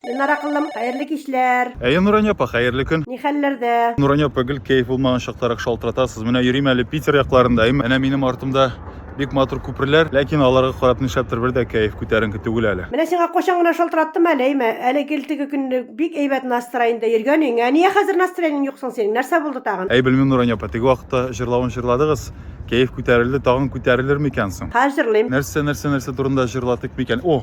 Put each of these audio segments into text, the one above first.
Ленар акыллым, хәерле кичләр! Әйе, Нурания апа, хәерле көн! Ни хәлләрдә? Нурания апа, гел кәеф булмаган чактарак шалтыратасыз. Менә йөрим әле Питер якларындайм. Әнә минем артымда бик матур күперләр, ләкин аларга карап нишләптер бер дә кәеф күтәренке түгел әле. Менә сиңа кайчан гына шалтыраттым әле, әйме? Әле гел теге көнне бик әйбәт настроеньдә йөргәнең. Ә ния хәзер настроениең юк соң синең? Нәрсә булды тагын? Әй, белмим, Нурания апа, теге вакытта җырлавын җырладыгыз, кәеф күтәрелде, тагын күтәрелерме икән соң? Хәзер җырлыйм. Нәрсә, нәрсә, нәрсә турында җырлатыйк микән? О!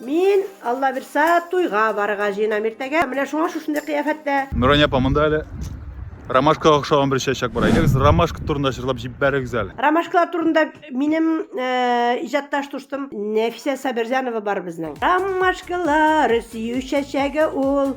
Мин, Аллабирса, туйга барырга җыенам иртәгә. Менә шуңа шушындый кыяфәттә. Нурания апа, монда әле ромашкага охшаган бер чәчәк бар. Әйдәгез, ромашка турында җырлап җибәрегез әле. Ромашкалар турында минем э, иҗатташ дустым Нәфисә Сабирҗанова бар безнең. Ромашкалар сөю чәчәге ул,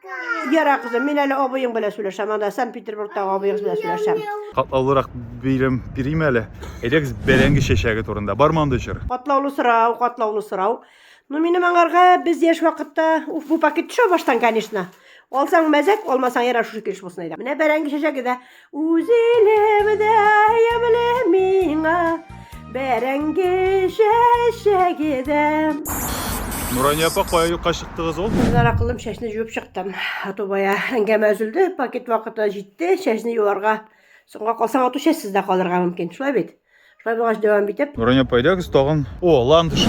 Яра, кызым, мин әле абыең белән сөйләшәм, анда Санкт-Петербургтагы абыегыз белән сөйләшәм. Катлаулырак бирем бирим әле. Әйдәгез бәрәңге чәчәге турында. Бармы андый чыр? Катлаулы сорау, катлаулы сорау. Ну, минем аңарга без яшь вакытта, уф, бу пакет төшә баштан, конечно. Алсаң мәзәк, алмасаң ярар шушы килеш булсын әйдә. Менә бәрәңге чәчәге дә Үз илем дә ямьле миңа, бәрәңге чәчәге дә. Нурания апа, кая юкка чыктыгыз ул? Зара кылым чәчне җуып чыктым. Ату бая әңгәмә өзелде, пакет вакыты җитте, чәчне юарга. Соңга калсаң, ату чәчсез дә калырга мөмкин, шулай бит? Шулай булгач дәвам итеп. Нурания апа, әйдәгез тагын. О, ландыш.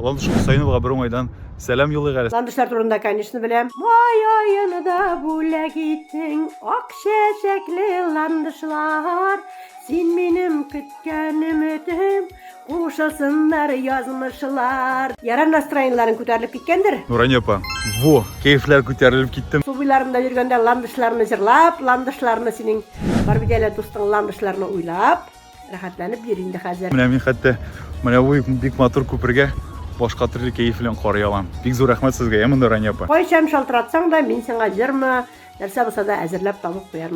Ландыш Хөсәеновага бер уңайдан сәлам юлыйк әле. Ландышлар турында, конечно, беләм. Май аен да бүләк итсең, ак чәчәкле ландышлар. Син минем көткән өметем, кушылсыннар язмышлар. Ярар настроениеләрен күтәрелеп киткәндер? Нурания апа, во, кәефләр күтәрелеп китте. Су буйларында йөргәндә ландышларны җырлап, ландышларны синең бар бит әле дустың ландышларны уйлап. Рәхәтләнеп йөр инде хәзер. Менә мин хәтта менә бу бик матур күпергә башка төрле кәеф белән карый алам. Бик зур рәхмәт сезгә, ә монда Рания апа. Кайчан шалтыратсаң да, мин сиңа җырмы, нәрсә булса да әзерләп табып куярмын.